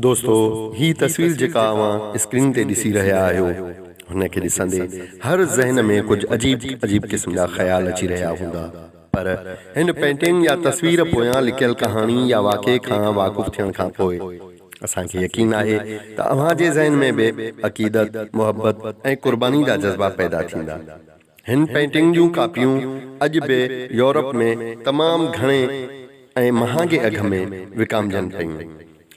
دوستو هي تصوير جيڪا اوهان اسڪرين تي ڏسي رهيا آهيو هن کي ڏسندي هر ذهن ۾ ڪجهه عجيب عجيب قسم جا خيال اچي رهيا هوندا پر هن پينٽنگ يا تصوير پويان لڪيل ڪهاڻي يا واقعي کان واقف ٿيڻ کان پوء اسان کي يقين آهي ته اوهان جي ذهن ۾ به عقيدت، محبت ۽ قرباني جا جذبا پيدا ٿيندا. هن پينٽنگ جون ڪاپيون اڄ به يورپ ۾ تمام گهڻي ۽ مهانگي اگهه ۾ وڪامجن پيون.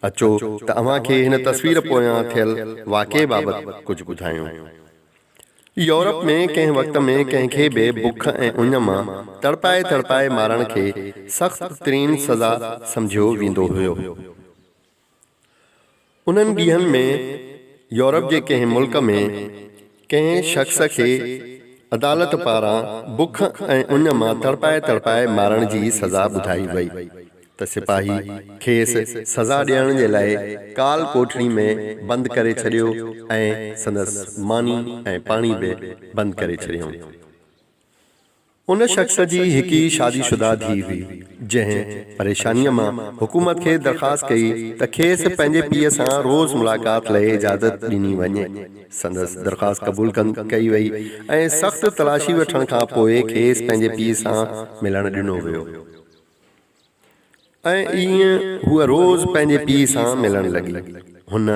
اچو ته اوهان کي هن تصوير پويان ٿيل واقعي بابت ڪجهه ٻڌايون. يورپ ۾ ڪنهن وقت ۾ ڪنهن کي به بک ۽ اڃ مان تڙپائي تڙپائي مارڻ کي سخت ترين سزا سمجهيو ويندو هيو. انهن ڏينهن ۾ يورپ جي ڪنهن ملڪ ۾ ڪنهن شخص کي عدالت پاران بک ۽ اڃ مان تڙپائي تڙپائي مارڻ جي سزا ٻڌائي وئي ته سپاهي کيس سزا ڏيڻ جي لاء ڪال ڪوٺڙي ۾ بند ڪري ڇڏيو ۽ سندس ماني ۽ پاڻي به بند ڪري ڇڏيائون. ان شخص جي هڪ ئي شادي شده ڌيء هئي، جنهن پريشانيء مان حڪومت کي درخواست ڪئي ته کيس پنهنجي پيء سان روز ملاقات لئه اجازت ڏني وڃي. سندس درخواست قبول ڪئي وئي ۽ سخت تلاشي وٺڻ کان پوء کيس پنهنجي پيء سان ملڻ ڏنو ويو. ۽ ائين هوء روز پنهنجي پيء سان ملڻ لڳي. هن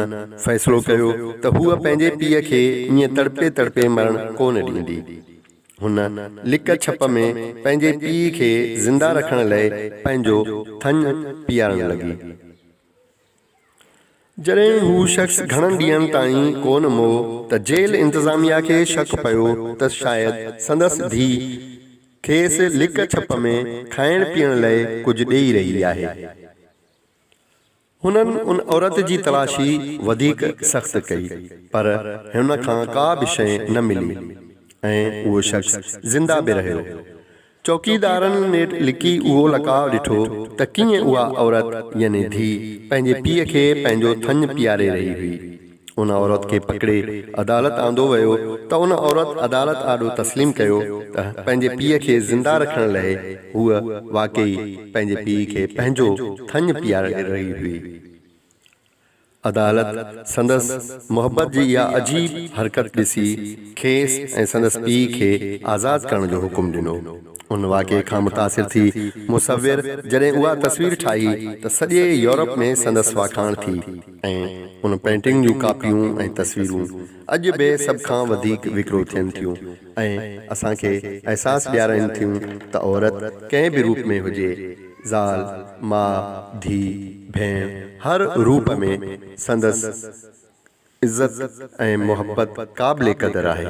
فيصلو ڪيو ته هوء پنهنجي پيء کي ائين تڙپي تڙپي مرڻ ڪو نه ڏيندي. هن لڪ ڇپ ۾ پنهنجي پيء کي زنده رکڻ لئه پنهنجو ٿڃ پيئارڻ لڳي. جڏهن هو شخص گهڻن ڏينهن تائين ڪونه مئو ته جيل انتظاميا کي شڪ پيو ته شايد سندس ڌيء کيس لڪ ڇپ ۾ کائڻ پيئڻ لئه ڪجهه ڏيئي رهي آهي. هنن ان عورت جي تلاشي وڌيڪ سخت ڪئي پر هن کان ڪا به شيء نه ملي ۽ اهو شخص زنده به رهيو. چوڪيدارن نيٺ لڪي اهو لقاء ڏٺو ته ڪيئن اها عورت يعني ڌيء پنهنجي پيء کي پنهنجو ٿڃ پياري رهي هئي. ان عورت کي پڪڙي عدالت آندو ويو ته ان عورت عدالت آڏو تسليم ڪيو ته پنهنجي پيء کي زنده رکڻ لئه هوء واقعي پنهنجي پيء کي پنهنجو ٿڃ پياري رهي هئي. عدالت سندس محبت جي اها عجيب حرڪت ڏسي کيس ۽ سندس پيء کي آزاد ڪرڻ جو حڪم ڏنو. ان واقعي کان متاثر ٿي مصور جڏهن اها تصوير ٺاهي ته سڄي يورپ ۾ سندس واکاڻ ٿي ۽ ان پينٽنگ جون ڪاپيون ۽ تصويرون اڄ به سڀ کان وڌيڪ وڪرو ٿين ٿيون ۽ اسان کي احساس ڏيارائين ٿيون ته عورت ڪنهن به روپ ۾ هجي، زال، ماء، ڌي، ڀيڻ، هر روپ ۾ سندس عزت ۽ محبت قابل قدر آهي.